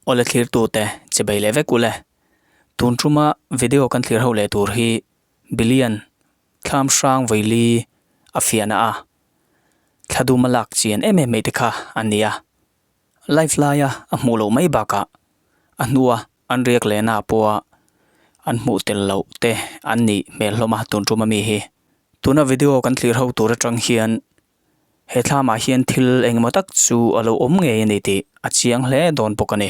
Awle thlir tu te che bei leh vek ule. Tun tuma video kan thlir ho leh tur hi Bilian Thlamhrang Vaili a fiahna a thla dum a lak chian em em mai te kha a nia. Live laia a hmuh loh mai bakah a hnua an riak lehna pawha an hmuh tel loh te an nih hmel hlawm a tun ṭum ami hi. Tuna video kan tlirho tur aṭang hian he thlamah hian thil engemaw tak chu a lo awm ngei a ni tih a chiang hle dawn bawk a ni.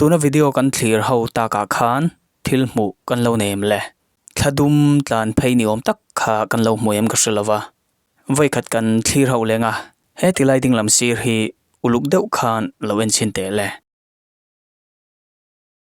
Tuna video kan thlir ho takah khan thil hmuh kan lo nei em le? Thla dum tlan phei ni awm tak kha kan lo hmu em ka hre lo va. Vawikhat kan thlir ho leng a, he tilai dinglam sir hi uluk deuh khan lo en chhin teh le?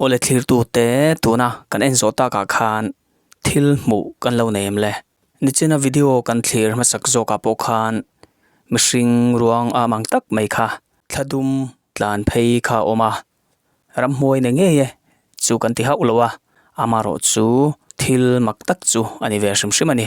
Aw le thlirtute, tuna kan en zawh takah khan thil hmuh kan lo nei em le? Nichina video kan thlir hmasak zawkah pawh khan mihring ruang a mang tak mai kha thla dum tlan phei kha a awm a, ram hmuai ne ngei e chu kan ti hauh lo a, amarawh chu thil mak tak chu a ni ve hrim hrim a ni.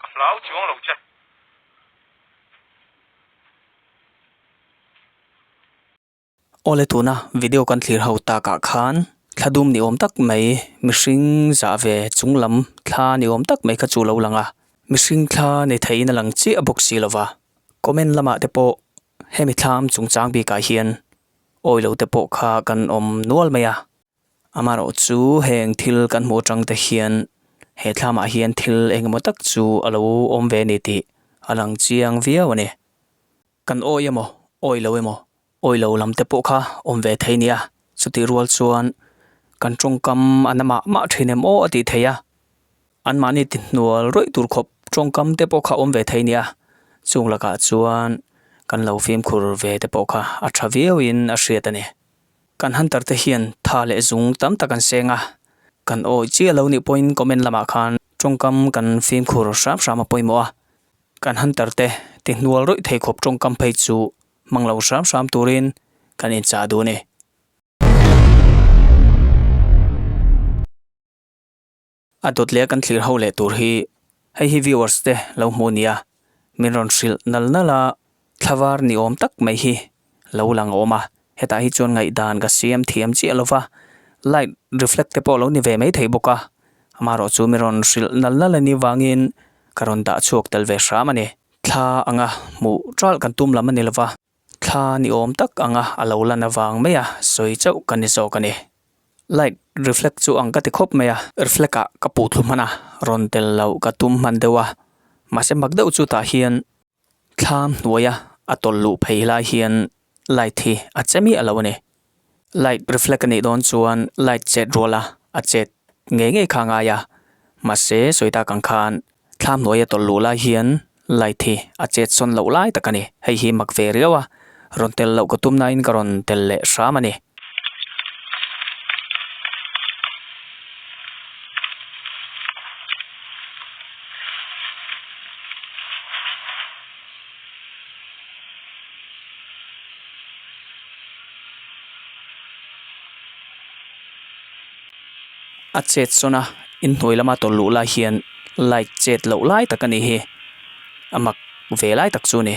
Ka hlau chuang lo che. Aw le tuna video kan thlir ho takah khan thla dum ni awm tak mai mihring zah ve chung lam thla ni awm tak mai kha chu lo lang a, mihring thla nei theihin a lang chiah bawk si lova, comment lamah te pawh hemi thla am chungchang bikah hian awilo te pawh kha kan awm nual mai a. Amaherawh chu heng thil kan hmuh atang te hian he thlamah hian thil eng emaw tak chu a lo awm ve a ni tih a lang chiang viau a ni. Kan awi emaw, awi lo emaw, awi lo lam te pawh kha awm ve thei nia, chutih rual chuan kan tawngkam an a mah mah thin em aw a tih theih a. Anmahni tihnual ruih tur khawp tawngkam te pawh kha awm ve thei nia, chung lakah chuan kan lo fimkhur ve te pawh kha a tha viau in a hriat a ni. Kan hunter te hian tha leh zung tam tak an seng a, kan awi chiah lo nih pawhin comment lamah khan tawngkam kan fimkhur hram hram a pawimawh a, kan hunter te tihnual reuh thei khawp tawngkam phei chu hmang lo hram hram turin kan inchah duh a ni. A dawt leh a kan thlir ho leh tur hi hei hi viewers te lo hmuh nia min rawn hrilh nal nal a thla var ni awm tak mai hi lo lang awm a hetah hi chuan ngaihdan ka siam thiam chiah lova light reflect te pawh lo ni ve mai thei bawk a amarawh chu min rawn hrilh nal nal a ni vangin ka rawn dah chhuak tel ve hram a ni thla anga hmuh ral kan tum lam a ni lova. Thla ni awm tak anga a lo lan avang mai a, sawi chauh ka ni zawk a ni. Light reflect chu ang ka ti khawp mai a. Reflect a ka puh thlu hman a, rawn tel loh ka tum hman deuh a, mahse mak deuh chutah hian thla hnuaia a tawlh luh phei lai hian light hi a che miah lo a ni. Light reflect a nih dawn chuan light chet ruala a chet ngei ngei kha a ngai a, mahse sawi tak ang khan thla hnuai a tawlh luh lai hian light hi a chet sawn loh lai tak a ni. Hei hi mak ve riau a, rawn tel loh ka tum nain ka rawn tel leh hram a ni. A chet sawn a inhnuai lama tawlh luh lai hian light chet loh lai tak a nih hi a mak ve lai tak chu a ni.